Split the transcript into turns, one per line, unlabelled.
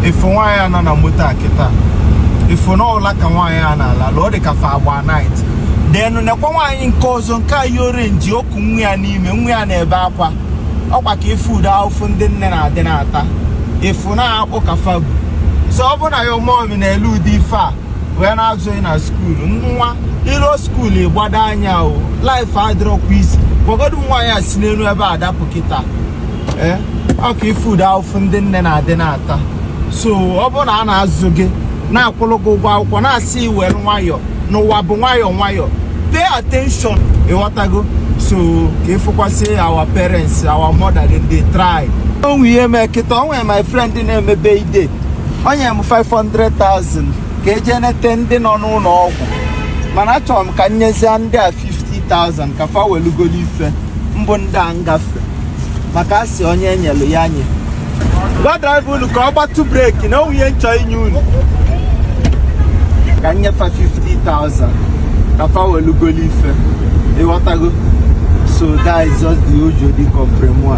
ị fụ nwaanyị a nọ na moto a kịta ị fụ na ọ ụla ka nwaanyị a na-alalụ ọ dị ka fa agba night then nekwa nwaanyị nke ọzọ nke a yi orange o ku nwa ya n'ime nwa ya na-ebe akwa ọkwa ka ị fụ ụdị ahụfụ ndị nne na-adị na-ata ị fụ na akpụ ka fa bu so ọ bụrụ na your mummy na-ele ụdị ife a wee na-azụ gị na skuulu nwa i luo skuulu ị gbado anya o life adịrọkwa easy gwagodu m nwaanyị a si n'elu ebe a dapụ kịta eh, ọ ka ị fụ ụdị ahụfụ ndị nne na-adị na-ata so ọ bụrụ na a na-azụ gị na-akwụrụ gị ụgwọ akwụkwọ na-asị gị were nwayọọ na ụwa bụ nwayọọ nwayọọ pay attention ị ghọtago so ka ị fụkwasị our parents our mother dem dey try o nwe ihe mee kịta o nwe my friend na-eme birthday o nye m 500,000 ka e je nete ndị nọ n'ụlọ ọgwụ mana achọrọ m ka m nyezie ndị a 50,000 ka fa welu golo ife mbụ ndị a ngafe maka a sị onye e nyelu ya nye gwa driver unu ka ọ gbatụ brake na o nwe ihe m chọ inye unu ka m nye fa 50,000 ka fa welu golu ife ị ghọtago so that is just the usual di compremua